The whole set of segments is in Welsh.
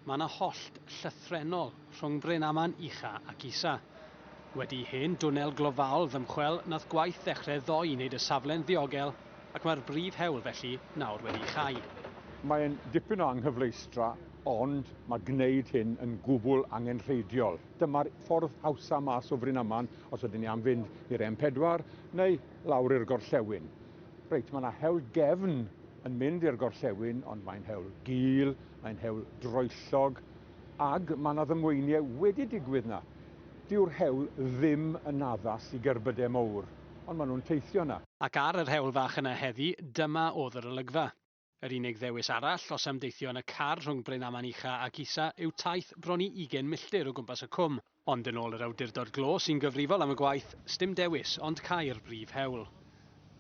Mae yna hollt llythrennol rhwng Brenaman Ucha ac Isa. Wedi i hen dwnnel glofaol ddymchwel nath gwaith ddechrau ddoe i wneud y safle'n ddiogel ac mae'r brif hewl felly nawr wedi'i chau. Mae'n dipyn o anghyfleustra ond mae gwneud hyn yn gwbl angenrheidiol. Dyma'r ffordd hawsa mas o Frenaman os ydyn ni am fynd i'r M4 neu lawr i'r gorllewin. Reit, mae yna hewl gefn yn mynd i'r gorllewin, ond mae'n hewl gul, mae'n hewl droellog, ag mae yna ddymweiniau wedi digwydd yna. Dyw'r hewl ddim yn addas i gerbydau mowr, ond maen nhw'n teithio yna. Ac ar yr hewl fach yna heddi, dyma oedd yr olygfa. Yr unig ddewis arall, os am deithio yn y car rhwng Brenaman Ucha ac Isa, yw taith bron i ugain milltir o gwmpas y cwm. Ond yn ôl yr awdurdod glo sy'n gyfrifol am y gwaith, sdim dewis ond cau'r brif hewl.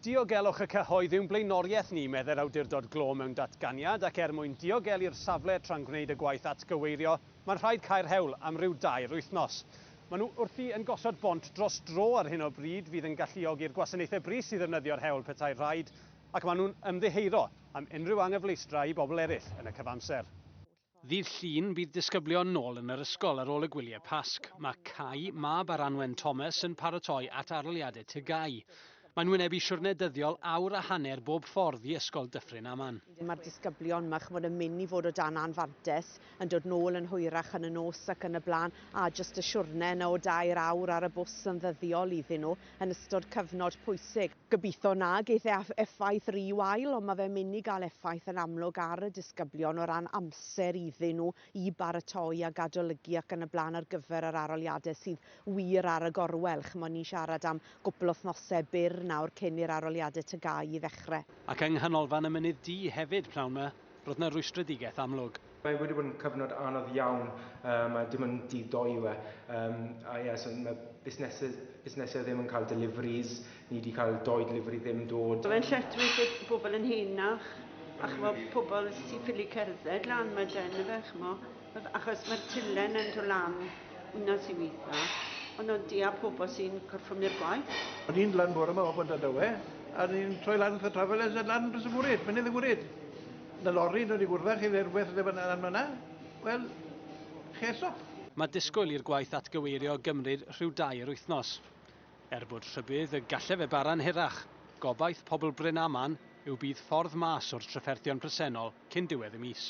Diogelwch y cyhoedd yw'n blaenoriaeth ni, meddai'r awdurdod glo mewn datganiad, ac er mwyn diogelu'r safle tra'n gwneud y gwaith atgyweirio, mae'n rhaid cau'r hewl am ryw dair wythnos. Maen nhw wrthi yn gosod bont dros dro ar hyn o bryd fydd yn galluogi'r gwasanaethau brys i ddefnyddio'r hewl petae'r rhaid, Ac maen nhw'n ymddiheuro am unrhyw anghyfleustra i bobl eraill yn y cyfamser. Ddydd Llun, bydd disgyblion nôl yn yr ysgol ar ôl y gwyliau Pasg. Mae Cai, mab Aranwen Thomas, yn paratoi at arloliad y TGAU. Mae'n wynebu siwrne dyddiol awr a hanner bob ffordd i Ysgol Dyffryn Aman. Mae'r disgyblion 'ma, chimod, yn mynd i fod o dan anfantais, yn dod nôl yn hwyrach yn y nos ac yn y blaen, a jyst y siwrne yna o dair awr ar y bws yn ddyddiol iddyn nhw yn ystod cyfnod pwysig. Gobeithio na geith e effaith rhy wael, ond mae fe'n mynd i gael effaith yn amlwg ar y disgyblion o ran amser iddyn nhw i baratoi ac adolygu ac yn y blaen ar gyfer yr aroliadau sydd wir ar y gorwel. Chimod, ni'n siarad am gwpl o wythnosau byr nawr cyn i'r aroliadau TGAU ddechrau. Ac yng Nghanolfan y Mynydd Du hefyd, pnawn 'ma, roedd 'na rwystredigaeth amlwg. Mae wedi bod yn cyfnod anodd iawn um, a dim ond dydd doi yw e. Um, a ie, yeah, so mae busnesau, busnesau ddim yn cael deliveries, ni wedi cael doi delivery ddim dod. Mae'n lletru bydd pobl yn henach, a chmo pobl sy'n ffili cerdded lan mae den y fe, chmo, achos mae'r tilen yn dod lan yna sy'n weitha, ond o'n di a pobl sy'n gorffwm i'r gwaith. O'n i'n lan bore yma o Bont Adowe, a ni'n troi lan wrth y travelers a lan dros y gwryd, mynydd y gwryd. Na lori dod i gwrdd â chi neu rhywbeth lle bynnag lan fan'na, wel, ches up. Mae disgwyl i'r gwaith atgyweirio gymryd rhyw dair wythnos. Er bod rhybudd y gallai fe bara'n hirach, gobaith pobl Bryn Aman yw bydd ffordd mas o'r trafferthion presennol cyn diwedd y mis.